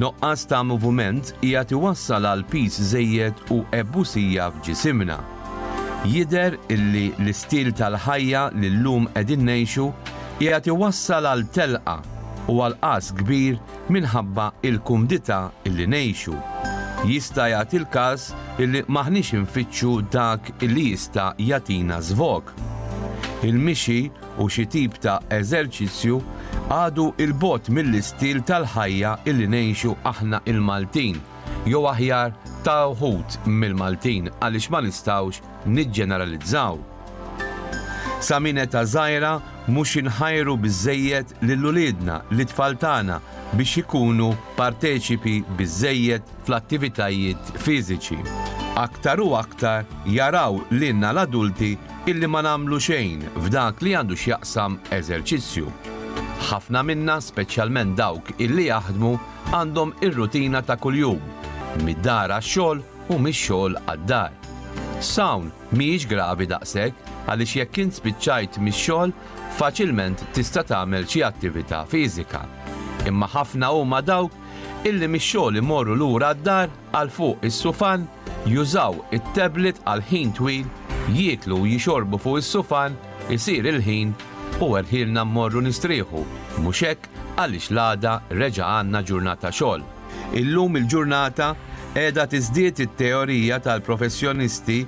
Noqqas ta' moviment hija tiwassal għal piż żejjed u ebbusija f'ġisimna. Jider illi l-istil tal-ħajja li llum qegħdin ngħixu hija tiwassal għal telqa u għal qas kbir minħabba l-kumdità li ngħixu, jista' jagħti l-każ li m'aħniex infittxu dak li jista' jagħtina żvog. Il-mixi u xi tip ta' eżerċizzju għadu 'l bogħod mill-istil tal-ħajja li ngħixu aħna l-Maltin, jew aħjar ta' wħud mill-Maltin għaliex ma nistgħux niġġeneralizzaw. Sa minn età żgħira mhux inħajru biżżejjed lil uliedna, lit-tfal tagħna, biex ikunu parteċipi biżżejjed fl-attivitajiet fiżiċi. Aktar u aktar jaraw lilna l-adulti illi ma nagħmlu xejn f'dak li għandu x'jaqsam eżerċizzju. Ħafna minna, speċjalment dawk illi jaħdmu, għandhom ir-rutina ta' kuljum, mid-dar għax-xogħol, u mix-xogħol għad-dar. S'hawn mhijiex gravi daqshekk għaliex jekk int spiċċajt mix-xogħol faċilment tista' tagħmel xi attività fiżika. Imma ħafna huma dawk illi mix-xogħol imorru lura d-dar għal fuq is-sufan, jużaw it-tablet għal ħin twil, jieklu u jixorbu fuq is-sufan, isir il-ħin u erħielna mmorru nistrieħu, mhux hekk għaliex l-għada reġa' għandna ġurnata xogħol. Illum il-ġurnata qiegħda tiżdied it-teorija tal-professjonisti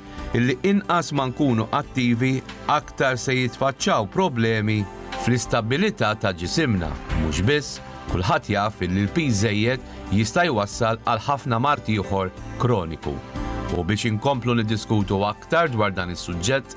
li inqas ma nkunu attivi aktar se jitfaċċaw problemi fl-istabbilità ta' ġisimna. Mhux biss, kulħadd jaf li l-piż żejjed jista' jwassal għal ħafna mard ieħor kroniku. U biex inkomplu niddiskutu aktar dwar dan is-suġġett,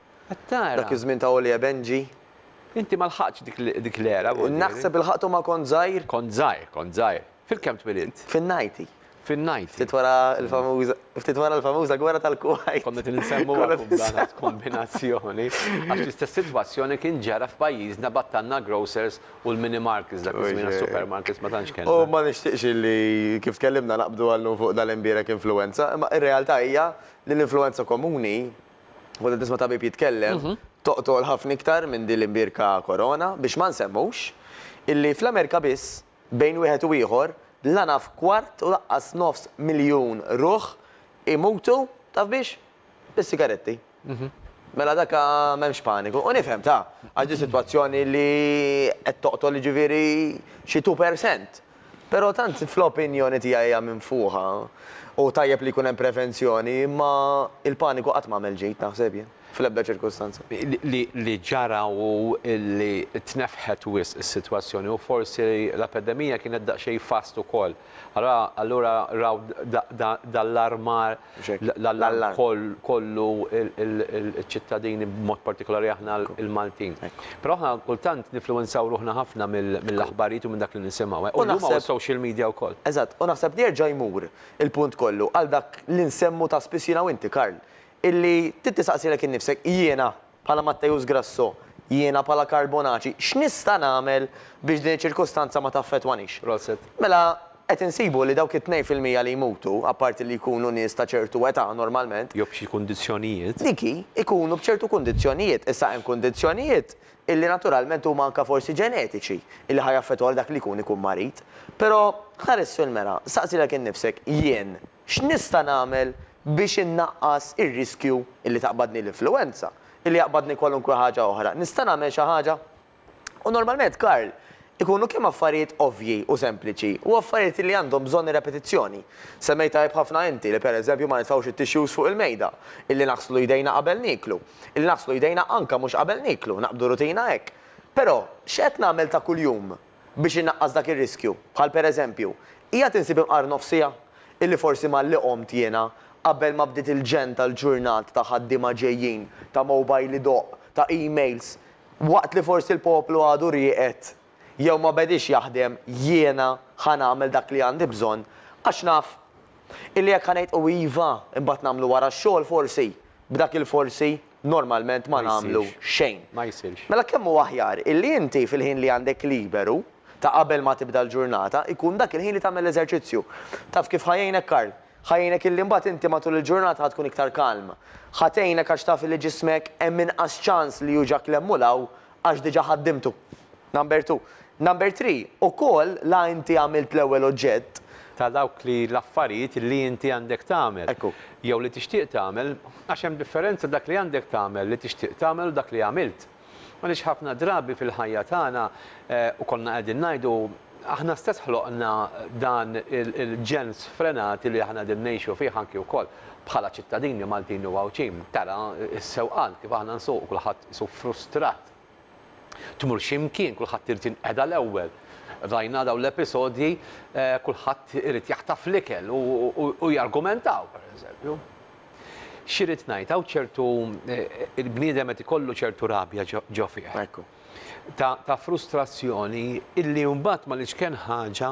Qed tara? Dak iż-żmien ta' Oli e Benji. Inti ma lħaqtx dik l-era, Bonġieri? Naħseb ilħaqthom ma kont żgħir. Kont żgħir, kont żgħir. Fil-kemm twilidt? Fin-90. Fin-90. Ftit wara l-famuża, ftit wara l-famuża gwerra tal-Kuwajt. Kont qed insemmu għalhekk dan għad kombinazzjoni. Għax l-istess sitwazzjoni kien ġara f'pajjiżna battalna grocers u l-mini markets dak iż-żmien għax supermarkets ma tantx kellna. U ma nixtieqx illi kif tkellimna naqbdu għal-lum fuq dal-imbierek influwenza, imma r-realtà hija li l-influwenza komuni Volja tisma' tabib jitkellem, toqtogħol ħafna iktar minn din l-imbierka Corona, biex ma nsemmux illi fl-Amerika biss, bejn wieħed u ieħor, la naf kwart u laqqas nofs miljun ruħ imutu, taf biex? Bis-sigaretti. Mela dak m'hemmx paniku. U nifhem, ta, għax din sitwazzjoni li qed toqtol jiġifieri xi two per cent. Però tant fl-opinjoni tiegħi hija minfuħa u tajjeb li jkun hemm prevenzjoni imma l-paniku qatt m'għamel ġid naħseb jien, fl-ebda ċirkustanza. Li ġara hu li tnefħet wisq is-sitwazzjoni u forsi l-epedemija kienet daqsxejn fast ukoll. Allura raw dal-armar l-allarm kollu iċ-ċittadini b'mod partikolari aħna l-Maltin. Però aħna kultant nifluwenzaw ruħna ħafna mill-aħbarijiet u minn dak li nisimgħu. U huma u s-social media wkoll. Eżatt, u naħseb li jerġa' jmur il-punt kollu għal dak li nsemmu ta' spiss jiena u inti Karl, illi trid tistaqsilek innifsek jiena bħala Matteus Grasso, jiena bħala Karl Bonaci, x'nista' nagħmel biex din iċ-ċirkustanza ma taffettwanix? Mela, qed insibu li dawk it-tnejn fil-mija li jmutu, apparti li jkunu nies ta' ċertu età normalment, Jew b'xi kundizzjonijiet. dik hi, ikunu b'ċertu kundizzjonijiet. Issa hemm kundizzjonijiet illi naturalment huma anke forsi ġenetiċi illi ħa jaffettwaw lil dak li jkun ikun marid. Però, ħares fil-mera, staqsi lilek innifsek, jien, X'nista' nagħmel biex innaqqas ir-riskju li taqbadni l-influwenza, li jaqbadni kwalunkwe ħaġa oħra? Nista' nagħmel xi ħaġa? U normalment, Karl, ikunu kemm affarijiet ovvji u sempliċi u affarijiet li għandhom bżonn repetizzjoni. Semmejt tajjeb ħafna inti li pereżempju ma nitfgħux it-tissues fuq il-mejda, illi naħslu jdejna qabel nieklu, illi naħslu jdejna anke mhux qabel nieklu, naqbdu rutina hekk. Però, x'qed nagħmel ta' kuljum? biex inaqqas dak ir-riskju, bħal pereżempju, qiegħed insib imqar nofsija, illi forsi malli qomt jiena, qabel ma bdiet il-ġenn tal-ġurnat ta' ħaddiema ġejjin, ta' mowbajl idoqq, ta' emails, waqt li forsi l-poplu għadu rieqed, jew ma bediex jaħdem, jiena ħa nagħmel dak li għandi bżonn, għax naf illi jekk ħa ngħid u iva, imbagħad nagħmlu wara x-xogħol forsi, b'dak il-forsi. normalment ma nagħmlu xejn. Mela kemm hu aħjar illi inti fil-ħin li għandek liberu, ta' qabel ma tibda l-ġurnata, ikun dak il-ħin li tagħmel l-eżerċizzju. Taf kif ħa jgħinek Karl? Ħa jgħinek illi mbagħad inti matul il-ġurnata ħa tkun iktar kalm. Ħa tgħinek għax taf illi ġismek hemm inqas ċans li hu ġa klemmu 'l hawn għax diġà ħaddimtu. Number two. Number three, ukoll la inti għamilt l-ewwel oġġett. Ta' dawk li l-affarijiet li inti għandek tagħmel. Ekku. Jew li tixtieq tagħmel, għax hemm differenza dak li għandek tagħmel, li tixtieq tagħmel u dak li għamilt. Għaliex ħafna drabi fil-ħajja tagħna, u konna qegħdin ngħidu, aħna stess ħloqna dan il-ġen sfrenati li aħna qegħdin ngħixu fih anki wkoll bħala ċittadini Maltin u Għawdxin. Tara s-sewqan, kif aħna nsuqu, kulħadd Qisu frustrat. Tmur xi mkien, kulħadd irid jinqeda l-ewwel. Rajna dawn l-episodji, kulħadd irid jaħtaf l-ikel u jargumentaw, pereżempju. Xi rrid ngħid, hawn ċertu, il-bniedem qed ikollu ċertu rabja ġo fih. Ta' frustrazzjoni illi mbagħad ma' l-iċken ħaġa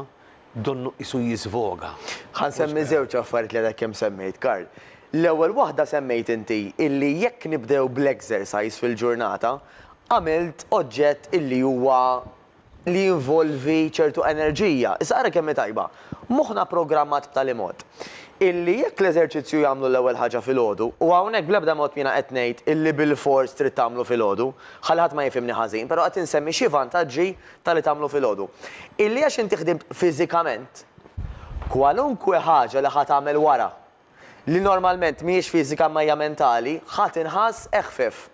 donnu qisu jiżvoga. Ħa nsemmi żewġ affarijiet li għadek kemm semmejt, Karl. L-ewwel waħda semmejt inti illi jekk nibdew bl-exercise fil-ġurnata, għamilt oġġett illi huwa li jinvolvi ċertu enerġija. Issa ara kemm hi tajba. Moħħna programmat b'tali mod illi jekk l-eżerċizzju jagħmlu l-ewwel ħaġa filgħodu, u hawnhekk bl-ebda mod jiena qed ngħid illi bilfors trid tagħmlu filgħodu, ħalli ħadd ma jifhimni ħażin, però qed insemmi xi vantaġġi Ta' li tagħmlu filgħodu. Illi għax inti ħdimt fiżikament, kwalunkwe ħaġa li ħa tagħmel wara, li normalment mhijiex fiżika imma hija mentali, ħa tinħass eħfef.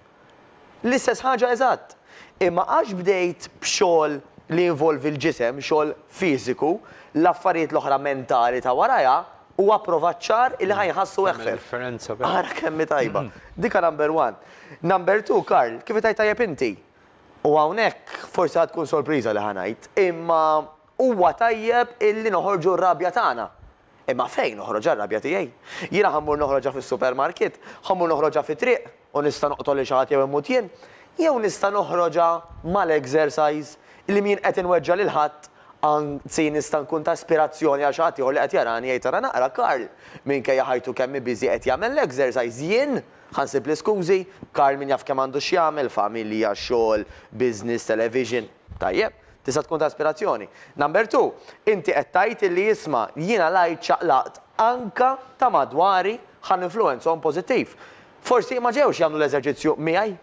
L-istess ħaġa eżatt. Imma għax bdejt b'xogħol li jinvolvi l-ġisem, xogħol fiżiku, l-affarijiet l-oħra mentali ta' warajha, hu approvat ċar illi ħa jinħassu eħfef. Tagħmel differenza vera. Ara kemm hi tajba. Dik number one. Number two, Karl, kif qed tgħid tajjeb inti, U hawnhekk forsi ħa tkun sorpriża li ħa ngħid, imma huwa tajjeb illi noħorġu r-rabja tagħna. Imma fejn noħroġha r-rabja tiegħi? Jiena ħa mmur noħroġha fis-supermarket? Ħa mmur noħroġha fit-triq u nista' noqtol lil xi ħadd jew immut jien? Jew nista' noħroġha mal-exercise li m'jien qed inweġġa' lil ħadd, anzi nista' nkun ta' ispirazzjoni għal xi ħadd ieħor li qed jarani jgħid ara naqra Karl minkejja ħajtu kemm hi busy qed jagħmel l-exercise, jien Ħa nsib l-iskużi, Karl min jaf kemm għandu x'jagħmel, familja, xogħol, business, television. Tajjeb, tista' tkun ta' ispirazzjoni. Number two, inti qed tgħid illi isma', jiena l-għid ċaqlaqt anka ta' madwari ħa ninfluwenzahom pożittiv. Forsi ma ġewx jagħmlu l-eżerċizzju miegħi,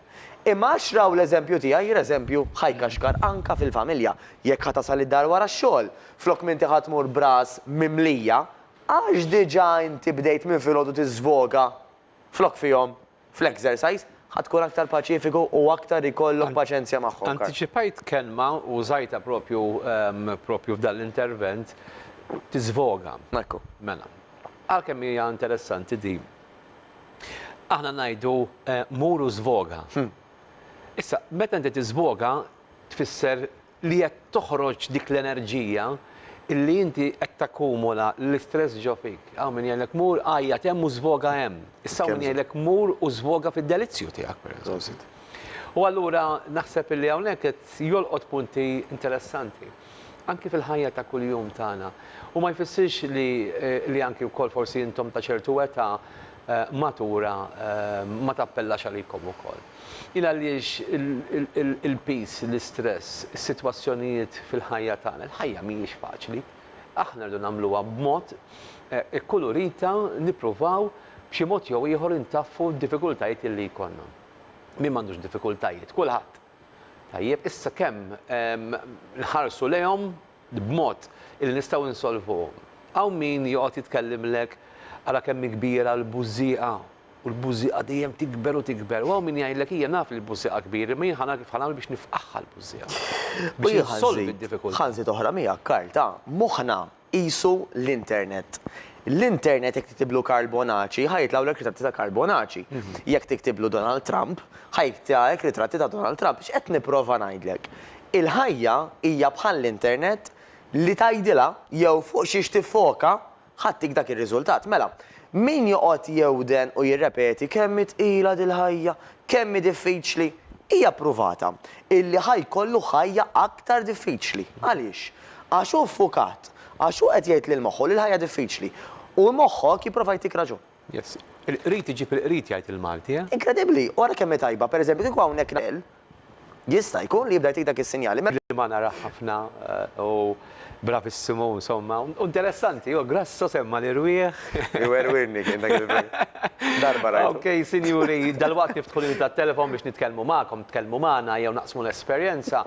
imma għax raw l-eżempju tiegħi, l-eżempju ħa jkaxkar anka fil-familja. Jekk ħa tasal id-dar wara x-xogħol, flok m'inti ħa tmur b'ras mimlija, għax diġà inti bdejt minn filgħodu tiżvoga flok fihom fl-exercise, ħa tkun aktar paċifiku u aktar ikollok paċenzja magħhom. Antiċipajt kelma u użajtha propju propju f'dan l-intervent, tiżvoga. Ekku. Mela. Għalkemm hija interessanti din, aħna ngħidu mur u żvoga. Issa, meta inti tiżvoga tfisser li qed toħroġ dik l-enerġija li inti qed takkumula l-istress ġo fik. Hawn min jgħidlek mur għajjat hemm u żvoga hemm. Issa hawn min jgħidlek mur u żvoga fid-delizzju tiegħek pereżempju. U allura naħseb li hawnhekk qed jolqot punti interessanti anki fil-ħajja ta' kuljum tagħna. U ma jfissirx li li anki wkoll forsi intom ta' ċertu età matura ma tappellax għalikom ukoll. Hi għaliex il-piż, l-istress, is-sitwazzjonijiet fil-ħajja tagħna, il-ħajja mhijiex faċli. Aħna rridu nagħmluha b'mod ikkulurita, nippruvaw b'xi mod jew ieħor intaffu d-diffikultajiet li jkollna. Min m'għandux diffikultajiet? Kulħadd. Tajjeb, issa kemm nħarsu lejhom b'mod li nistgħu insolvuhom. Hawn min joqgħod jitkellimlek ara kemm hi kbira l-bużżieqa U l-bużieqa dejjem tikber u tikber. U hawn min jgħidlek ija naf li l-bużieqa kbir, imma jien ħa nara kif ħa nagħmel biex nifqagħha l-bużieqa. Biex insolvi d-diffikultà. Ħa nżid oħra miegħek, Karl, ta', moħħna qisu l-internet. L-internet jekk tiktiblu Karl Bonaci ħa jitlgħulek ritratti ta' Karl Bonaci. Jekk tiktiblu Donald Trump, ħa jitlgħek ritratti ta' Donald Trump. X'qed nipprova ngħidlek? Il-ħajja hija bħall-internet li tgħidilha jew fuq xiex tiffoka Ħadtik dak ir-riżultat. Mela, min joqgħod jewden u jirrepeti kemm hi tqila dil-ħajja, kemm hi diffiċli, hija ppruvata illi ħa jkollu ħajja aktar diffiċli. Għaliex? Għax hu ffukat, għax hu qed jgħid lil moħħu li l-ħajja diffiċli. U moħħok jipprova jtik raġun. Yes. Il-qrid iġib il-qrid, jgħid il-Malti, eh? Inkredibbli! U ara kemm hi tajba, pereżempju, kieku hawnhekk Jista' jkun li jibda jtik dak is-sinjal. Rimana ra ħafna u bravissimu insomma. U interessanti, hu grasso semma' l-irwieħ. Iwerwirni kien dak il-belt. Darba rajtu. Ok, sinjuri, dalwaqt niftħu linji tat-telefon biex nitkellmu magħkom, tkellmu magħna jew naqsmu l-esperjenza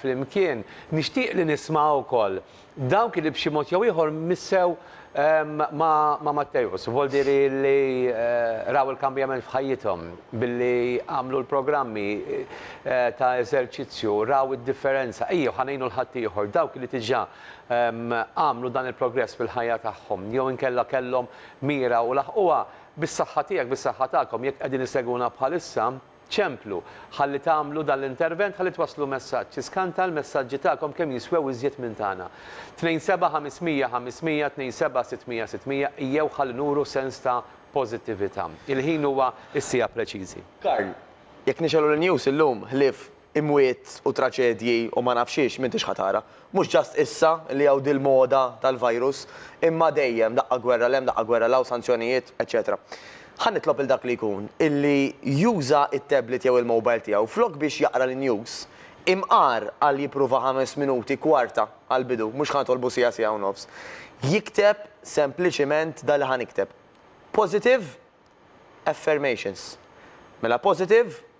flimkien. Nixtieq li nisma' wkoll Dawk li b'xi mod jew ieħor missew ma' Matteus, voldieri li raw il-kambjament f'ħajjithom billi għamlu l-programmi ta' eżerċizzju, raw id-differenza. Ejjew, ħa ngħinu 'l ħaddieħor, dawk li diġà għamlu dan il-progress fil-ħajja tagħhom, jew inkella kellhom mira u laħquha, bis-saħħa tiegħek, bis-saħħa tagħkom, jekk qegħdin issegwuna bħalissa, Ċemplu, ħalli tagħmlu dan l-intervent ħalli twasslu messaġġ. Iskanta l-messaġġi tagħkom kemm jiswew iżjed minn tagħna. 27500 500 27 600 600 ijjew ħalli nuru sens ta' pożittività. Il-ħin huwa s-siegħa preċiżi. Karl, Jekk nixgħelu l-news illum, ħlief imwiet u traċedji u ma naf xiex, m'intix ħa tara. Mhux just issa li hawn dil-moda tal-virus, imma dejjem, daqqa gwerra 'l hemm, daqqa gwerra 'l hawn, sanzjonijiet, eċċetera. Ħa nitlob lil dak li jkun illi juża t-tablet jew il-mobile tiegħu, flok biex jaqra l-news, imqar għal jipprova ħames minuti, kwarta, għall-bidu, mhux ħa nitolbu siegħa, siegħa u nofs, jikteb sempliċiment dak li ħa nikteb. Positive affirmations. Mela positive,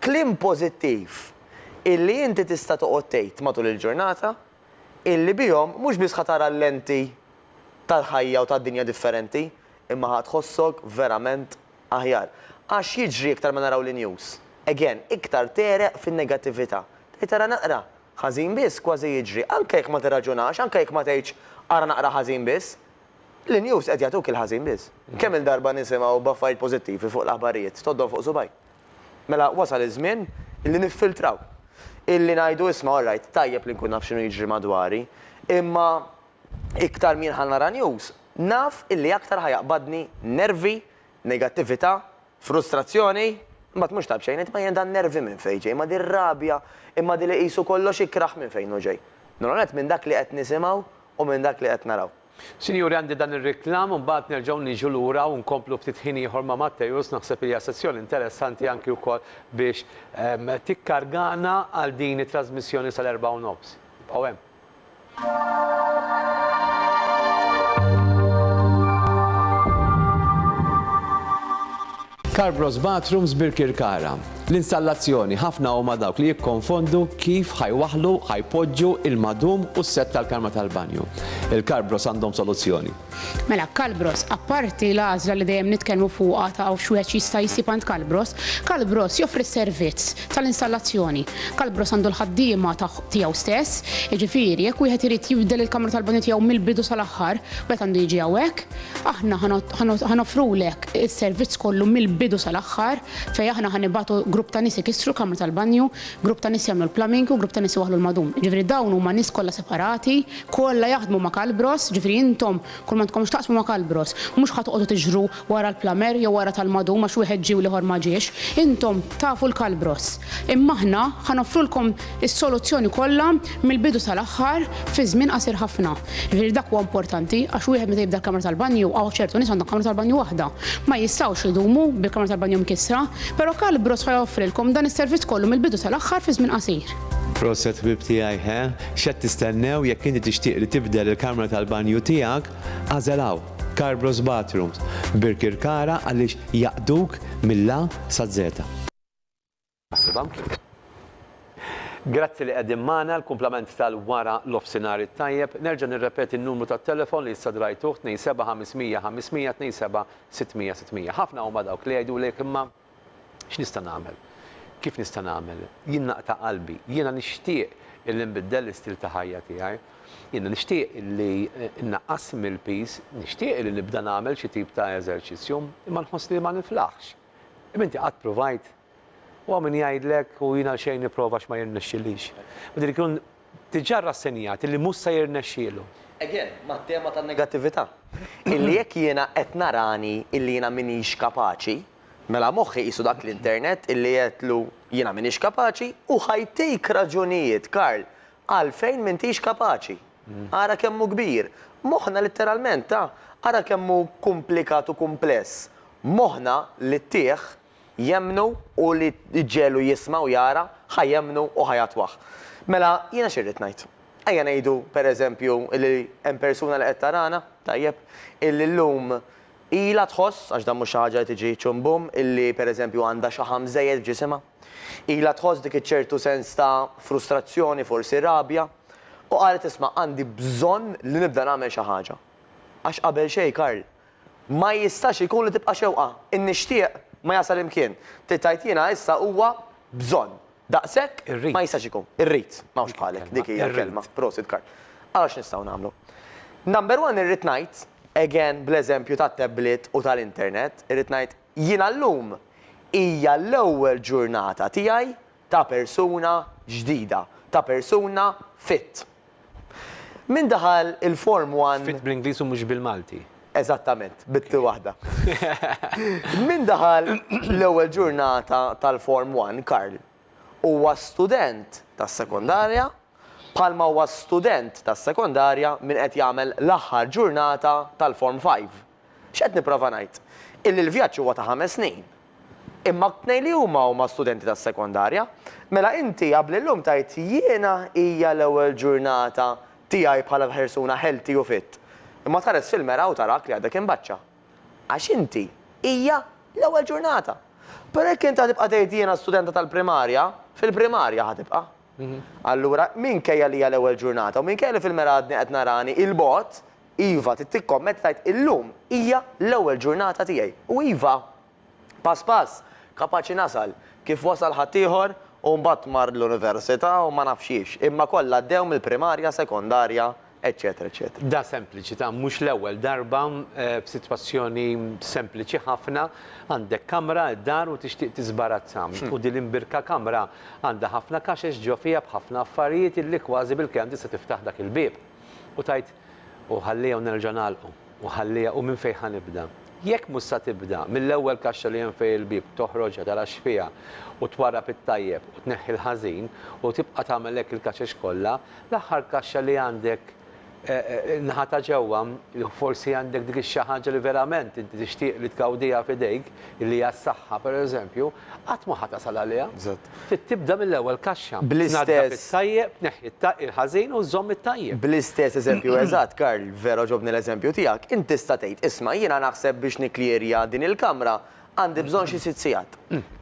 Kliem pożittiv illi inti tista' toqgħod tgħid matul il-ġurnata illi bihom mhux biss ħa tara l-lenti tal-ħajja u tad-dinja differenti imma ħa tħossok verament aħjar. Għax jiġri iktar ma naraw l-news, again, iktar tegħreq fin-negattività. Tgħid ara naqra ħażin biss kważi jiġri, anke jekk ma tirraġunax, anke jekk ma tgħidx ara naqra ħażin biss, l-news qed jagħtuk il-ħażin biss. Kemm-il darba nisimgħu b'affarijiet pożittivi fuq l-aħbarijiet, tgħoddhom fuq subgħajk. Mela wasal iż-żmien li niffiltraw. Illi ngħidu isma' all right, tajjeb li nkun naf x'inhu jiġri madwari, imma iktar min ħa nara news, naf illi aktar ħa jaqbadni nervi, negattività, frustrazzjoni, imbagħad mhux tajb xejn, imma jien dan nervi minn fejn ġej, imma din rabja, imma din li qisu kollox ikrah minn fejn hu ġej? L-ewwel nett minn dak li qed nisimgħu u minn dak li qed naraw. Sinjuri għandi dan ir-riklam u mbagħad nerġgħu niġu lura u nkomplu ftit ħin ieħor ma' Matteus, naħseb li hija sessjoni interessanti anki wkoll biex tikkargana għal din it-trażmissjoni sal-erbgħa u nofs. Ibqgħu hemm. Carbros Bathrooms Birkirkara, L-installazzjoni, ħafna huma dawk li jikkonfondu kif ħa jwaħħlu, ħa jpoġġu, il-madum u s-sett tal-karma tal-banju. Il-Carbros għandhom soluzzjoni. Mela, Carbros, apparti l-għażla li dejjem nitkellmu fuqha ta' x'wieħed x'jista' jsib għand Carbros, Carbros joffri s-servizz tal-installazzjoni. Carbros għandu l-ħaddiema tiegħu stess, jiġifieri jekk wieħed irid jibdel il-kamra tal-banju tiegħu mill-bidu sal-aħħar, wieħed għandu jiġi hawnhekk. Aħna ħa noffrulek is-servizz kollu mill-bidu sal-aħħar fejn aħna ħa nibagħtu grupp ta' nies ikissru l-kamra tal-banju, grupp ta' nies jagħmlu l-plumbing u grupp ta' nies iwaħħlu l-madum. Jiġifieri dawn huma nies kollha separati, kollha jaħdmu ma' Kalbros, jiġifieri intom kull ma għandkom x'taqsmu ma' Kalbros. Mhux ħa toqogħdu tiġru wara l-plumber jew wara tal-madum għax wieħed ġie u l-ieħor ma ġiex. Intom tafu l-Kalbros. Imma aħna ħa noffrulkom is-soluzzjoni kollha mill-bidu sal-aħħar fi żmien qasir ħafna. Jiġifieri dak huwa importanti għax wieħed meta jibda l-kamra tal-banju, hawn ċertu nies għandhom kamra tal-banju waħda, ma jistgħux idumu bil-kamra tal-banju mkissra, però Calbros ħa joffrilkom dan is-servizz kollu mill-bidu sal-aħħar fi żmien qasir. Proset ħbieb tiegħi he, x'qed tistennew jekk inti tixtieq li tibdel il-kamra tal-banju tiegħek, agħżel hawn, Calbros Bathrooms, Birkirkara għaliex jaqduk mill-A saz-Z. Grazzi li qegħdin magħna, il-kumplament tal-wara l-offsinhar it-tajjeb. Nerġa' nirrepeti n-numru tat-telefon li issa drajtuh, 27 500 500, 27 600 600. Ħafna huma dawk li jgħidulek imma x'nista' nagħmel? Kif nista' nagħmel? Jien naqta' qalbi. Jiena nixtieq illi nbiddel l-istil ta' ħajja tiegħi. Jiena nixtieq illi nnaqqas mill-piż. Nixtieq illi nibda nagħmel xi tip ta' eżerċizzju. Imma nħossni li ma niflaħx. Imma inti qatt pruvajt? U hawn min jgħidlek, u jien għalxejn nipprova għax ma jirnexxilix. U din ikun diġà rrassenjat li mhux se jirnexxielu. Again, mat-tema tan-negattività. Illi jekk jiena qed narani illi jiena m'iniex kapaċi, mela moħħi qisu dak l-internet illi għedtlu jiena m'iniex kapaċi u ħajtik raġunijiet, Karl, għalfejn m'intix kapaċi. Ara kemm hu kbir. Moħħna litteralment, ta, ara kemm hu kumplikat u kumpless. Moħħna li ttih, jemmnu u li ġġegħlu jisma' u jara, ħa jemmnu u ħa jagħtwah. Mela, jiena x'irrid ngħid? Ejja ngħidu, per eżempju, illi hemm persuna li qed tarana, tajjeb, illi llum ilha tħoss, għax dan mhux xi ħaġa li tiġi ċum bum, illi per eżempju għandha xaħam żejjed f'ġisimha. Ilha tħoss dik iċ-ċertu sens ta' frustrazzjoni, forsi rabja, u qalet isma' għandi bżonn li nibda nagħmel xi ħaġa. Għax qabel xejn, Karl, Ma jistax ikun li tibqa' xewqa. In-nixtieq ma jasal imkien. Trid tgħid jiena issa huwa bżonn. Daqshekk? Irrid. Ma jistax ikun. Irrid. M'hawnx bħalek. Dik hija l-kelma. Prosit Karl. Ara x'nistgħu nagħmlu. Number one irrid ngħid, again bl-eżempju tat-tablet u tal-internet, irrid ngħid jiena llum hija l-ewwel ġurnata tiegħi ta' persuna ġdida, ta' persuna fit. Min daħal il-Form One. Fit bl-Ingliż u mhux bil-Malti. Eżattament, bit-t waħda. Min daħal l-ewwel ġurnata tal-Form One, Karl, huwa student tas-sekondarja bħalma huwa student tas-sekondarja min qed jagħmel l-aħħar ġurnata tal-Form Five. X'qed nipprova ngħid? Illi l-vjaġġ huwa ta' ħames snin. Imma t-tnejn li huma huma studenti tas-sekondarja. Mela inti qabli llum tgħid jiena hija l-ewwel ġurnata tiegħi bħala persuna healthy u fit. Imma tħares fil-mera u tarak li għadek imbaċċa. Għax inti hija l-ewwel ġurnata. Però jekk inti ħa tibqa' tgħid jiena studenta tal-primarja, fil-primarja ħa tibqa'. Allura minkejja li hija l-ewwel ġurnata u minkejja li fil-mera għadni qed narani 'il bogħod, Iva, trid tikkommetta tgħid illum hija l-ewwel ġurnata tiegħi u iva, pass pass, kapaċi nasal, kif wasal ħaddieħor u mbagħad mar l-università u ma nafx xiex, imma kollha għaddew mill-primarja, sekondarja, eċċetera eċċetera. Da sempliċità, mhux l-ewwel darba b'sitwazzjoni sempliċi ħafna, għandek kamra d-dar u tixtieq tiżbarazza u din l-imbirka kamra għandha ħafna kaxex ġo fiha b'ħafna affarijiet illi kważi bil-kelm tista' tiftaħ dak il-bieb. U tgħid, U ħallieha u nerġa' nagħlqu, u ħallieha u minn fejn ħa nibda? Jekk mhux sa tibda mill-ewwel kaxxa li hemm fejn il-bieb, toħroġha, tara x'fiha, u twarrab it-tajjeb u tneħħi l-ħażin, u tibqa' tagħmel hekk il-kaxex kollha, l-aħħar kaxxa li għandek in-naħa ta' ġewwa, forsi għandek dik ix-xi ħaġa li verament inti tixtieq li tgawdiha f'idejk, li hija s-saħħa, pereżempju, qatt ma ħa tasal għaliha. Trid tibda mill-ewwel kaxxa. Tnaddaf it-tajjeb, tneħħi il-ħażin u żżomm it-tajjeb. Bl-istess eżempju eżatt, Karl, vera għoġobni l-eżempju tiegħek, int tista' tgħid, isma' jiena naħseb biex nikklijirja din il-kamra għandi bżonn xi sitt sigħat.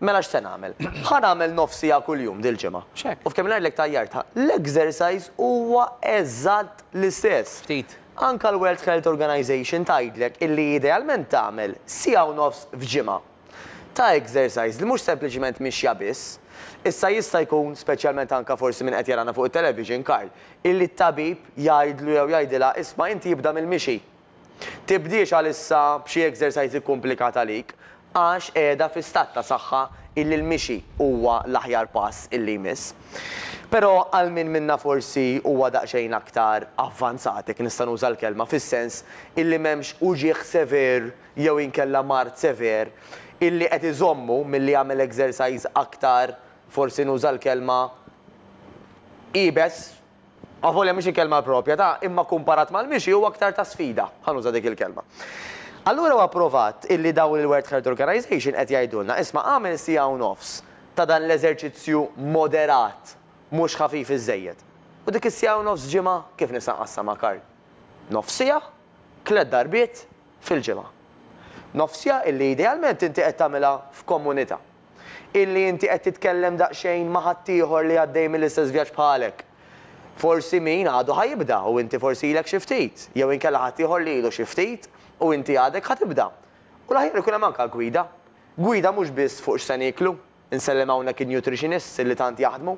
Mela x'se nagħmel? Ħa nagħmel nofs sigħa kuljum dil-ġimgħa. U f'kemm-il ngħidlek tajjartha. L-exercise huwa eżatt l-istess. Ftit. Anke l-World Health Organization tgħidlek illi idealment tagħmel sigħa u nofs f'ġimgħa. ta' exercise li mhux sempliċement mixja biss. Issa jista' jkun, speċjalment anke forsi min qed jarana fuq it-television, Karl, illi t-tabib jgħidlu jew jgħidilha isma' inti ibda mill-mixi. Tibdiex għalissa b'xi exercise ikkumplikat għalik għax qiegħda fi stat ta' saħħa illi l-mixi huwa l-aħjar pass illi jmiss. Però għal min minna forsi huwa daqsxejn aktar avvanzat, jekk nista' nuża l-kelma, fis-sens illi m'hemmx uġigħ sever, jew inkella mard sever illi qed iżommu milli jagħmel exercise aktar, forsi nuża l-kelma, iebes, avolja mhix il-kelma propja ta' imma kumparat mal-mixi huwa aktar ta' sfida, ħa nuża dik il-kelma. Allura huwa provat illi dawn il-World Health Organization qed jgħidulna, isma' agħmel siegħa u nofs ta' dan l-eżerċizzju moderat, mhux ħafif iż-żejjed. U dik is-siegħa u nofs ġimgħa, kif nista' nqassam ma' Karl? Nofs siegħa, tliet darbiet, fil-ġimgħa. Nofsija illi idealment inti qed tagħmilha f'kommunità. Illi inti qed titkellem daqsxejn ma' ħaddieħor li għaddej mill-istess vjaġġ bħalek. Forsi min għadu ħa jibda u inti forsi ilek xi ftit, jew inkella ħaddieħor li ilu xi ftit u inti għadek ħa tibda. U l-aħjar ikun hemm anke gwida. Gwida mhux biss fuq x'se nieklu, Insellem hawnhekk in-nutritionists li tant jaħdmu,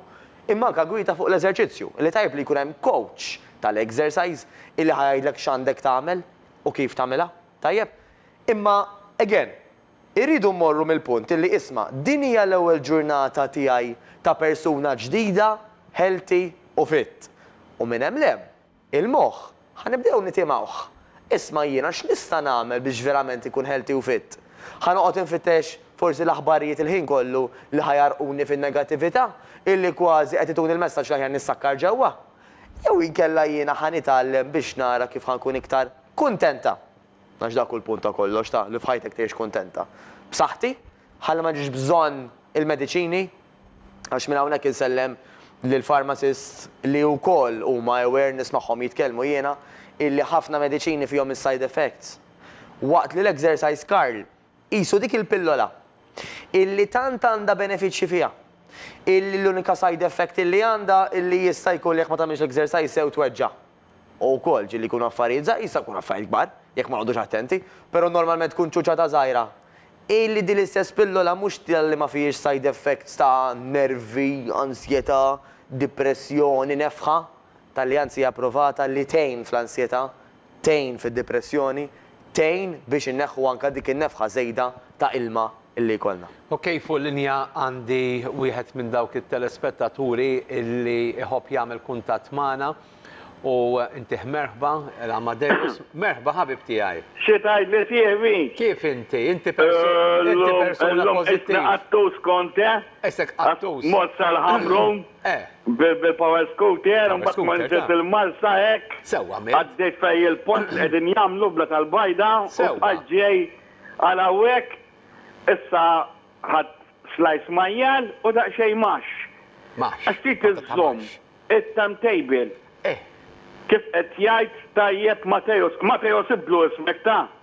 imma anke gwieta fuq l-eżerċizzju, li tajjeb li jkun hemm coach tal-exercise illi ħa jgħidlek x'għandek tagħmel u kif tagħmilha, tajjeb? Imma, again, irridu mmorru mill-punt illi isma' din hija l-ewwel ġurnata tiegħi ta' persuna ġdida, healthy u fit. U minn hemm 'l hemm, Il-moħħ, Ħa nibdew nitimgħuh. Isma' jiena x'nista' nagħmel biex verament inkun healthy u fit? Ħa noqgħod infittex forsi l-aħbarijiet il-ħin kollu li ħa jgħarrquni fin-negattività, illi kważi qed ituni l-messaġġ l-aħjar nissakkar ġewwa? Jew inkella jiena ħa nitgħallem biex nara kif ħa nkun iktar kuntenta? Għax dak hu l-punt ta' kollox, ta' li f'ħajtek tgħix kuntenta. B'saħħti? Ħalli ma ġiex bżonn il-mediċini, għax minn hawnhekk insellem lill-pharmacists li wkoll huma aware, nismagħhom jitkellmu jiena, illi ħafna mediċini fihom is-side effects. Waqt li l-exercise Karl, qisu dik il-pillola, illi tant għandha benefiċċji fiha, illi l-unika side effect illi għandha illi jista' jkun li jekk ma tagħmilx l-exercise sew tweġġa'. U wkoll, ġieli jkunu affarijiet żgħar, jista' jkun affarijiet kbar, jekk ma noqgħodux attenti, però normalment tkun ċuċata żgħira. Hi li din l-istess pillola mhux talli ma fihiex side effects ta' nervi, ansjetà, dipressjoni, nefħa, talli anzi hija pprovata li tgħin fl-ansjetà, tgħin fid-dipressjoni, tgħin biex inneħħu anke dik in-nefħa żejda ta' ilma li jkollna. Ok fuq linja għandi wieħed minn dawk it-telespettaturi li jħobb jagħmel kuntatt magħna u ntih merħba, l-Amadeus. Merħba ħabib tiegħi. Xi tgħid li sieħbi? Kif inti? Inti persuna pożittiva. Illum qisni qattus kont, eh? Qisek qattus. Mozza l-ħamrun. E. Bil-power scooter, imbagħad tmur ġiet il-Marsa hekk, għaddejt fejn il-pont li qegħdin jagħmlu bla tal-bajda u bqajt ġej għal hawnhekk, issa ħadt slice majjal u daqsxejn mash. Għax trid iżżomm it-timetable. Kif qed jgħid tajjeb Mateo, Mateo sibtlu ismek ta?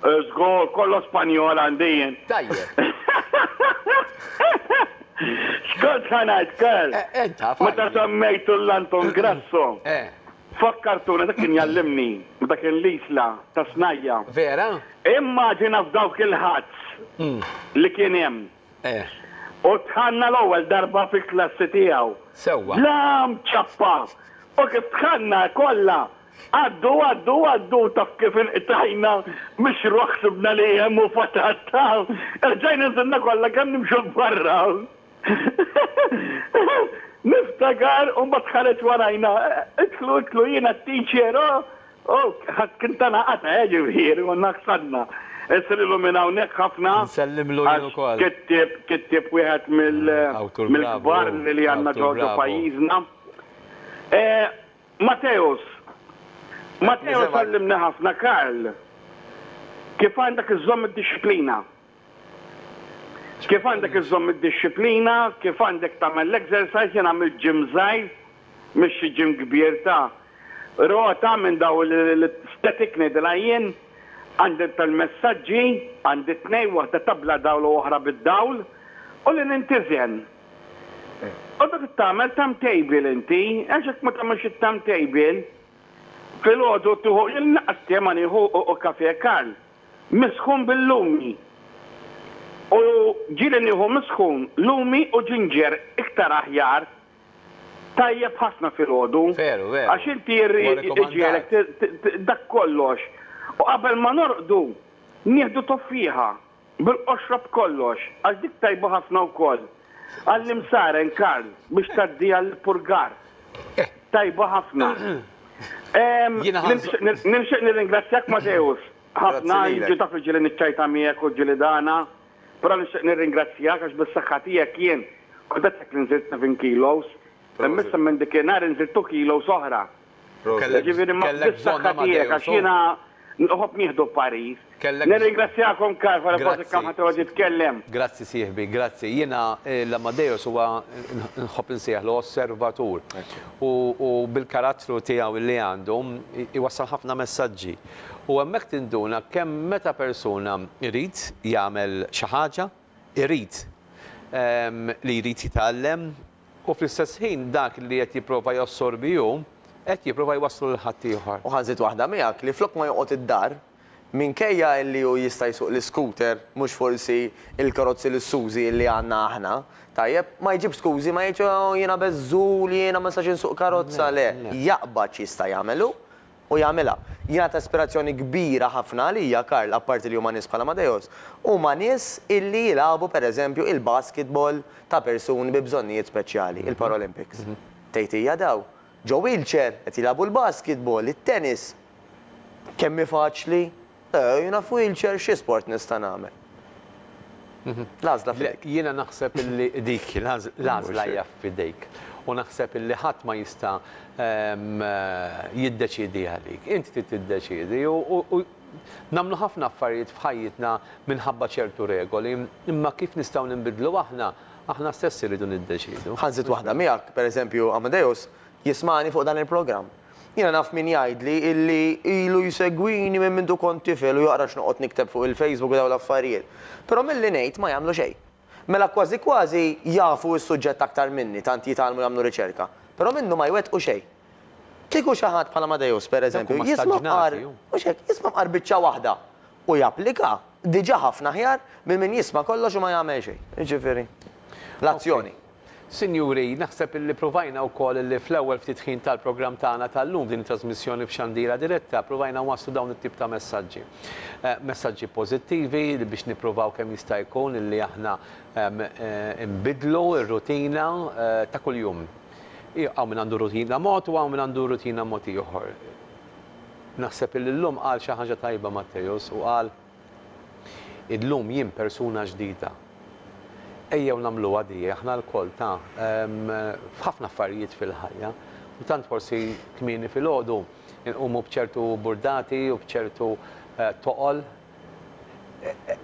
Żgur, kollox Spanjol għandi jien. Tajjeb. X'kont ħa ngħid, Karl? Int taf. Meta semmejtu l-Anton Grasso, fakkartuni dak kien jgħallimni f'dak il-Isla tas-Snajja. Vera? Immaġina f'dawk il-huts li kien hemm. Eh. U tħanna l-ewwel darba fil-klassi tiegħu. Sewwa. Bla mċappa! U kif tħanna kollha għaddu, għaddu, għaddu u taf kif inqtajna mix-xruq ħsibna li hemm u fatatta. Erġajna nżilna kollha kemm nimxu 'l barra. Niftakar u mbagħad ħareġ warajna, idħlu, idħlu, jiena t-teacher, oh! Ohh, ħadd kien tana qata' eh ġifieri konna ksarna. Issa lilhom minn hawnhekk ħafna. Nsellimlu jien ukoll. Għax kittieb, kittieb wieħed mill, mill-kbar li għandna ġo, ġo pajjiżna. Mateusz, Mateusz għallimni ħafna Karl, kif għandek iżżomm id-dixxiplina. Kif għandek iżżomm id-dixxiplina, kif għandek tagħmel l-exercise, jien għamilt gym żgħir, mhix xi gym kbir ta' rota minn dawn li static ngħidilha jien, għandi l-permessaġġi, għandi tnejn, waħda ta' bla dawl u oħra bid-dawl, u li nintiżen. U dak tagħmel timetable inti, għax jekk ma tagħmilx it-timetable, filgħodu tieħu, jien l-inqas tiem nieħu kafe e karl. Misħun bil-lumi. U ġieli nieħu misħun, lumi u ġinġer iktar aħjar. Tajjeb ħafna filgħodu. Veru, veru. Għax inti irrid iġielek dak kollox. U qabel ma norqdu, nieħdu toffiħa, bil-qoxra b'kollox, għax dik tajba ħafna wkoll. Għallim Saren, Karl, biex tgħaddiha l-ippurgar. Tajba ħafna. Nixtieq nirringrazzjak Mateusz ħafna, inti taf li ġieli niċċajta miegħek u ġieli dana, però nixtieq nirringrazzjak għax bis-saħħa tiegħek jien kont qed ngħidlek li nżidt seven kilos, imma issa minn dik in-nhar inżidt two kilos oħra. Jiġifieri bis-saħħa tiegħek għax jiena. Noħob nieħdu parir. Kellek. Nirringrazzjakom kar wara forsi kemm ħadd iqgħod jitkellem. Grazzi sieħbi, grazzi. Jiena l-Amadeus huwa nħobb insejjaħlu osservatur. U bil-karattru tiegħu li għandu jwassal ħafna messaġġi. U hemmhekk tinduna kemm meta persuna jrid jagħmel xi ħaġa, irid li jrid jitgħallem, U fl-istess ħin dak li qed jipprova jassorbi hu, qed jipprova jwasslu lil ħaddieħor. U ħa nżid waħda miegħek, li flok ma joqgħod id-dar, minkejja li hu jista' jsuq l-iskuter, mhux forsi l-karozzi lussużi li għandna aħna, tajjeb, ma jġibx skużi, ma jgħidx, oh jiena beżżul, jiena ma nistax insuq karozza, le, jaqbad x'jista' jagħmel hu, u jagħmilha. Jiena ta' ispirazzjoni kbira ħafna għalija, Karl, apparti li huma nies bħal Amadeus, huma nies illi jilagħbu per eżempju il-basketball ta' persuni bi bżonnijiet speċjali, il-Paralympics. Tgħid hija daw, ġo wheelchair, qed jilagħbu l-basketball, it-tennis. Kemm hi faċli? Jiena f'wheelchair xi sport nista' nagħmel? L-għażla f'idejk. Jiena naħseb illi dik l-għażla hija f'idejk u naħseb illi ħadd ma jista' jiddeċiedi għalik. Inti trid tiddeċiedi u nagħmlu ħafna affarijiet f'ħajjitna minħabba ċertu regoli, imma kif nistgħu ninbidlu aħna, aħna stess irridu niddeċiedu. Ħa nżid waħda miegħek, pereżempju Amadeus, Jismagħni fuq dan il-programm. Jiena naf min jgħidli illi ilu jsegwini minn mindu kont tifel u jaqra x'noqgħod nikteb fuq il-Facebook u dawn l-affarijiet. Però milli ngħid ma jagħmlu xejn. Mela kważi kważi jafu s-suġġett aktar minni, tant jitgħallmu jagħmlu riċerka. Però minnu ma jwettqu xejn. Kieku xi ħadd bħal Amadeus, per eżempju, jisma' mqar, mhux hekk, jisma' mqar biċċa waħda u japplika, diġà ħafna aħjar minn min jisma' kollox u ma jagħmel xejn. Jiġifieri, l-azzjoni. Sinjuri, naħseb illi provajna wkoll illi fl-ewwel ftit ħin tal-programm tagħna tal-lum f'din it-trasmissjoni f'Xandira Diretta, provajna nwasslu dawn it-tip ta' messaġġi. Messaġġi pożittivi li biex nippruvaw kemm jista' jkun illi aħna nbiddlu r-rutina ta' kuljum. Hawn min għandu rutina mod u hawn min għandu rutina mod ieħor. Naħseb illi llum qal xi ħaġa tajba Matteus u qal, Illum jien persuna ġdida. Ejjew nagħmluha di aħna lkoll ta' f'ħafna affarijiet fil-ħajja u tant forsi kmieni filgħodu inqumu b'ċertu burdati u b'ċertu toqol.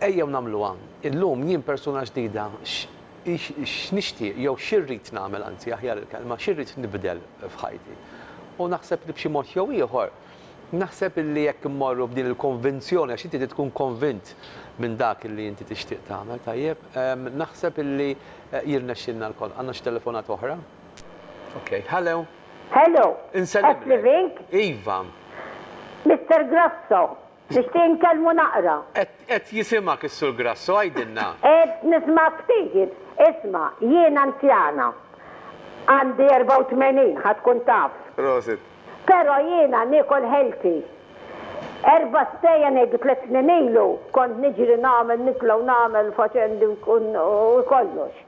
Ejjew nagħmluha. Illum jien persuna ġdida x'nixtieq jew x'irrid nagħmel anzi aħjar il-kelma x'irrid nibdel f'ħajti. U naħseb li b'xi mod jew ieħor Naħseb illi jekk immorru b'din il-konvinzjoni, għax inti trid tkun konvint minn dak illi inti tixtieq tagħmel, tajjeb, naħseb illi jirnexxilna lkoll. Għandna xi telefonata oħra? Ok. Hello! Hello! Insellmlek. Iva. Mister Grasso, Nixtieq nkellmu naqra. Qed, qed jisimgħek is-Sur Grasso, għidilna. Qed nismagħk tgħid. Isma', jien anzjana. Għandi 84, ħa tkun taf. Prosit. Però jiena niekol healthy. Erba' stejjer ngħidu tliet snin ilu kont niġri nagħmel nitla' u nagħmel faċendi u kollox.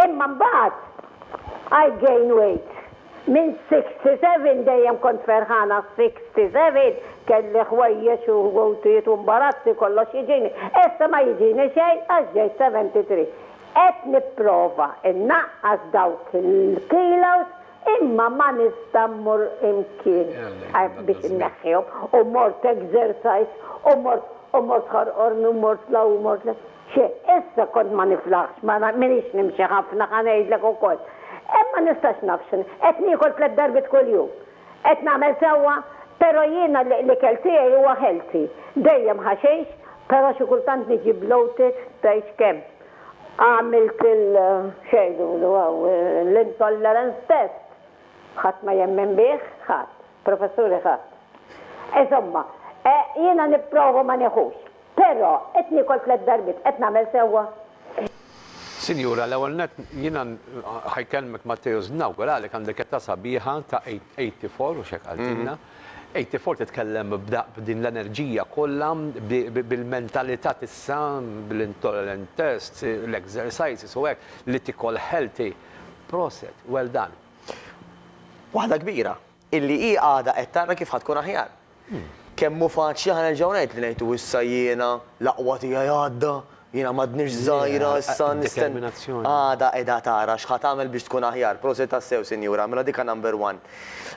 Imma mbagħad I gain weight. Minn Sixty Seven dejjem kont ferħana Sixty Seven kelli ħwejjeġ u ħwejtijiet u mbarazzi kollox jiġini. Issa ma jiġini xejn għax ġejt Seventy Three. Qed nipprova nnaqqas dawk il-kilos imma ma nista' mmur imkien biex inneħħihom u mort exercise u mort u mort ħorqorni u mort 'l hawn u mort 'l hemm. Xi, issa kont ma niflaħx, ma minix nimxi ħafna, ħa ngħidlek ukoll. Hemm ma nistax naf x'inhu. Qed niekol tliet darbiet kuljum. Qed nagħmel sewwa, però jiena l-ikel tiegħi huwa healthy. Dejjem ħaxix, però xi kultant niġi bloated tgħidx kemm. Għamilt il, x'jgħidulu hawn, l-intolerance test. Ħadd ma jemmen bih, ħadd. Professuri ħadd. Insomma, jiena nipprova ma nieħux. Però, qed niekol tliet darbiet, qed nagħmel sewwa? Sinjura, l-ewwel nett, jiena ħa jkellmek Matteus, nawguralek għandek età sabiħa ta' eighty four, hux hekk qaltilna? Eighty four titkellem b'din l-enerġija kollha, bil-mentalità t'issa, bl-intolerant tests, l-exercises u hekk, li tikol healthy. Proset, well done. Waħda kbira. Illi hi għada qed tara kif ħa tkun aħjar. Kemm hu faċli ħa nerġgħu ngħid li ngħidu issa jiena l-aqwa tiegħi għadda, jiena m'għadniex żgħira issa nisten. Għada qiegħda tara x'ħa tagħmel biex tkun aħjar. Prosit tassew Sinjura, mela dik number one.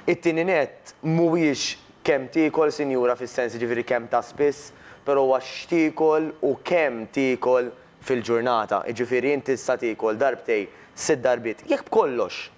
It-tieni nett, mhuwiex kemm tiekol Sinjura fis-sens jiġifieri kemm ta' spiss, però huwa x'tiekol u kemm tiekol fil-ġurnata. Jiġifieri inti issa tiekol darbtej, sitt darbiet, jekk b'kollox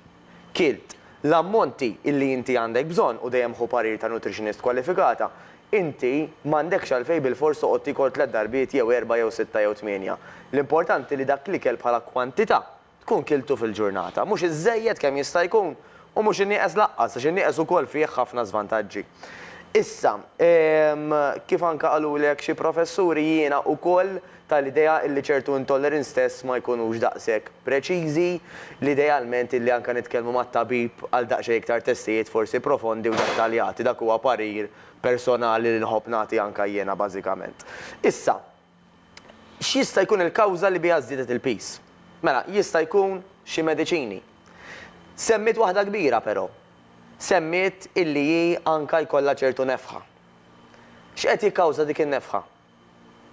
Kilt, l-ammonti li inti għandek bżonn, u dejjem ħu parir ta' nutritionist kwalifikata, inti m'għandekx għalfejn bilfors toqgħod tiekol tliet darbiet jew erbgħa jew sitta jew tmienja. L-importanti li dak l-ikel bħala kwantità tkun kiltu fil-ġurnata. Mhux iżżejjed kemm jista' jkun u mhux inieqes lanqas għax in-nieqes ukoll fih ħafna żvantaġġi. Issa, kif anke qaluli hekk xi professuri jiena ukoll tal-idea illi ċertu intolerins stess ma jkunux daqshekk preċiżi, li idealment illi anke nitkellmu mat-tabib għal daqsxejn iktar testijiet forsi profondi u dettaljati. Dak huwa parir personali li nħobb nagħti anke jiena bażikament. Issa, x'jista' jkun il-kawża li biha żdiedet il-piż? Mela, jista' jkun xi mediċini. Semmiet waħda kbira però. Semmiet illi hi anke jkollha ċertu nefħa. X'qed jikkawża dik in-nefħa?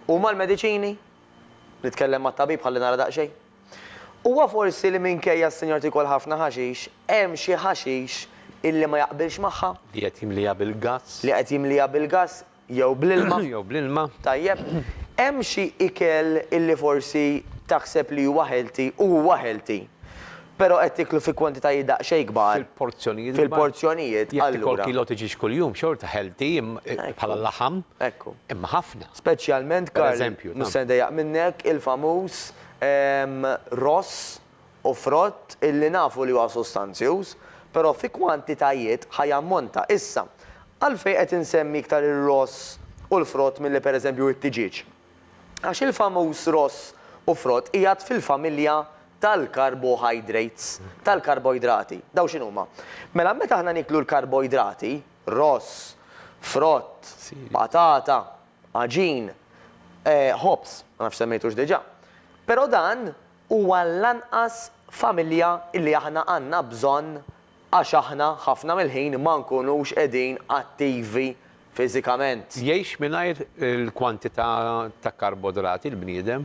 Huma l-mediċini? Nitkellem mat-tabib ħalli nara daqsxejn. Huwa forsi li minkejja s-sinjora tiekol ħafna ħaxix, hemm xi ħaxix illi ma jaqbilx magħha? Li qed jimliha bil-gass. Li qed jimliha bil-gass jew bl-ilma. Jew bl-ilma. Tajjeb. Hemm xi ikel illi forsi taħseb li huwa healthy u huwa healthy. Però qed tieklu fi kwantitajiet daqsxejn kbar. Fil-porzjonijiet kbar. Fil-porzjonijiet, allura. Jekk tikol kilo ta' ġiex kuljum, xorta healthy bħala laħam. Ekku. Imma ħafna. Speċjalment, Karl. Per eżempju. Mhux se ndejjaq minnek, il-famuż ross u frott illi nafu li huwa sostanzjuż, però fi kwantitajiet ħa jammonta. Issa, għalfejn qed insemmi iktar ir-ross u l-frott milli per eżempju it-tiġieġ? Għax il-famuż ross u frott qiegħed fil-familja tal-carbohydrates, tal-karboidrati. Dawn x'inhuma? Mela meta aħna nieklu l-karboidrati, ross, frott, patata, għaġin, ħobż, ma nafx semmejtux diġà. Però dan huwa l-anqas familja li aħna għandna bżonn Għax aħna ħafna mill-ħin ma nkunux qegħdin attivi fiżikament. Jgħix mingħajr il-kwantità ta' karbodrati l-bniedem,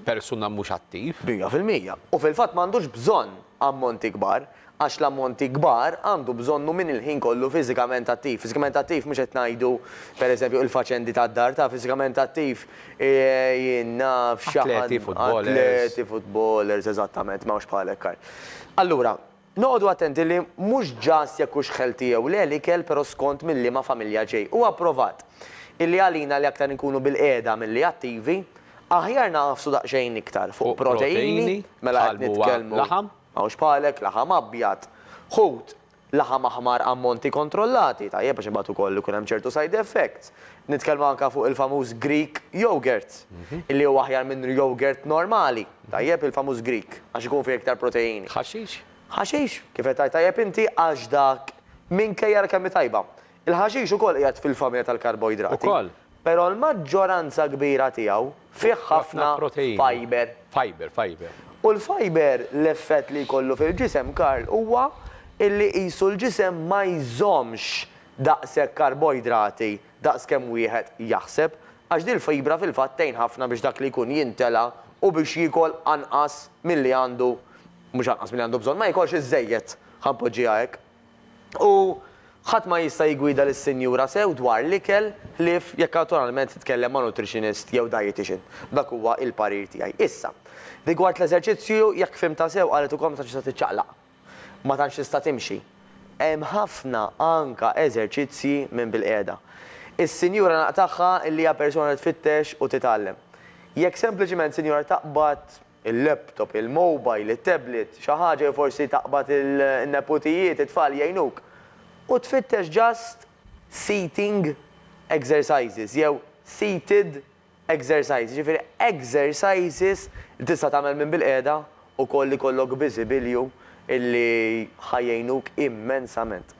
persuna mhux attiv. Mija fil-mija. U fil-fatt m'għandux bżonn ammonti kbar, għax l-ammonti kbar għandu bżonnhom min il-ħin kollu fiżikament attiv. Fiżikament attiv mhux qed ngħidu, per eżempju, il-faċendi tad-dar, taf, fiżikament attiv, jien naf xi ħadd. Atleti, futbolers. Atleti, futbolers, eżattament, m'hawnx bħalek, Karl. Allura. Noqogħdu attenti li mhux ġast jekk hux ħelti jew le l-ikel però skont minn liema familja ġej. Huwa pprovat illi għalina li aktar inkunu bil-qiegħda milli attivi, aħjar nagħfsu daqsxejn iktar fuq proteini, mela qed nitkellmu, hawnx bħalek, laħam abjad, ħut, laħam aħmar ammonti kontrollati, tajjeb għax imbagħad ukoll ikun hemm ċertu side effects, Nitkellmu anke fuq il-famuż Greek yogurt, illi huwa aħjar minn yogurt normali, tajjeb, il-famuż Greek, għax ikun fih iktar proteini. Ħaxix? Ħaxix, kif qed tgħid tajjeb inti, għax dak, minkejja l-kemm hi tajba. Il-ħaxix ukoll qiegħed fil-familja tal-karboidrati. Ukoll. Però l-maġġoranza kbira tiegħu fih ħafna fiber. Fiber, fiber. U l-fiber, l-effett li jkollu fil-ġisem, Karl, huwa illi qisu l-ġisem ma jżommx daqshekk karboidrati daqs kemm wieħed jaħseb, għax dil-fibra fil-fatt tgħin ħafna biex dak li jkun jintela' u biex jiekol anqas milli għandu, mhux anqas milli għandu bżonn, ma jiekolx iżżejjed, ħa npoġġiha hekk. U ħadd ma jista' jiggwida lis-sinjura sew dwar l-ikel ħlief jekk awtoralment titkellem ma' nutritionist jew dietician. Dak huwa il-parir tiegħi. Issa, rigward l-eżerċizzju, jekk fhimtha sew qalet ukoll meta tista' tiċċaqlaq. Ma tantx tista' timxi. Hemm ħafna anka eżerċizzji minn bilqiegħda. Is-sinjura naqtagħha li hija persuna li tfittex u titgħallem. Jekk sempliċiment sinjura taqbad il-laptop, il-mobile, it-tablet, xi ħaġa jew forsi taqbad in-neputijiet, it-tfal jgħinuk. U tfittex just seating exercises jew seated Exercise, jiġifieri exercises li tista' tagħmel minn bilqiegħda, ukoll ikollok biżibilju illi ħa jgħinuk immensament.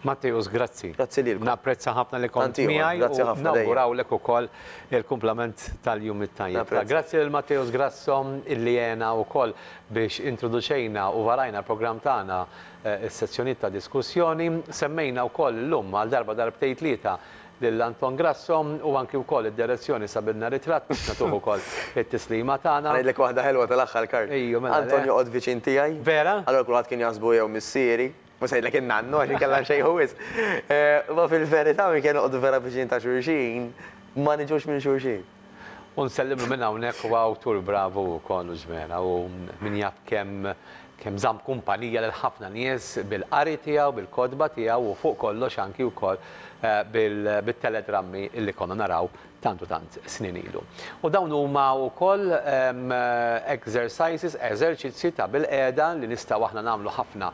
Matteus, grazzi. Grazzi lilkom. Napprezza ħafna li kont miegħi. Tant ieħor, grazzi ħafna dejjem. U nawgurawlek ukoll il-kumplament tal-jum it-tajjeb. Napprezza. Grazzi lil Matteus Grasso illi għena ukoll biex introduċejna u varajna l-programm tagħna, is-sezzjonijiet ta' diskussjoni. Semmejna wkoll illum għal darba darbtejn tlieta lil Anton Grasso u anki wkoll id-direzzjoni sabilna ritratt biex nagħtuh ukoll it-tislima tagħna. Ħa ngħidlek waħda ħelwa tal-aħħar Karl. Ejju mela le. Anton joqgħod viċin tiegħi. Vera? Allura kulħadd kien jaħsbu jew missieri, mhux se ngħidlek in-nannu għax inkella nxejħu wisq. Imma fil-verità minn kien noqogħdu vera viċin ta' xulxin, ma niġux minn xulxin. U nsellimlu minn hawnhekk huwa awtur bravu wkoll u ġmielha u min jaf kemm kemm żamm kumpanija lil ħafna nies bil-qari tiegħu, bil-kotba tiegħu u fuq kollox anki wkoll bit-teledrammi li konna naraw tant u tant snin ilu. U dawn huma wkoll exercises, eżerċizzji ta' bilqiegħda li nistgħu aħna nagħmlu ħafna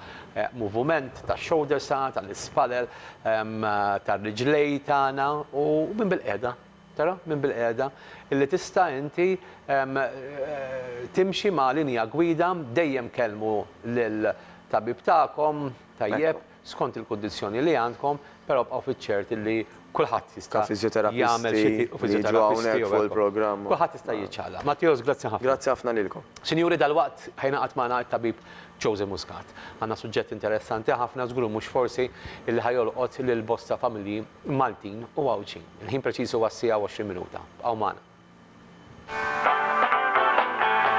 movument tax-shoulders tagħna, tal-ispallel, tar-riġlejn tagħna u minn bilqiegħda Tara, minn bilqiegħda, illi tista' inti timxi ma' linja gwida, dejjem kellmu lill-tabib tagħkom, tajjeb, skont il-kundizzjoni li għandkom, però bqgħu fiċ-ċert illi kulħadd jista' jagħmel xi tip, u fiżjoterapisti u hekk, kulħadd jista' jiċċaqlaq. Matteos, grazzi ħafna. Grazzi ħafna lilkom. Sinjuri, dalwaqt ħa jingħaqad magħna t-tabib Josy Muscat. Għandna suġġett interessanti ħafna, żgur mhux forsi, illi ħa jolqot lil bosta familji Maltin u Għawdxin. Il-ħin preċiż huwa s-siegħa u 20 minuta. Bqgħu magħna.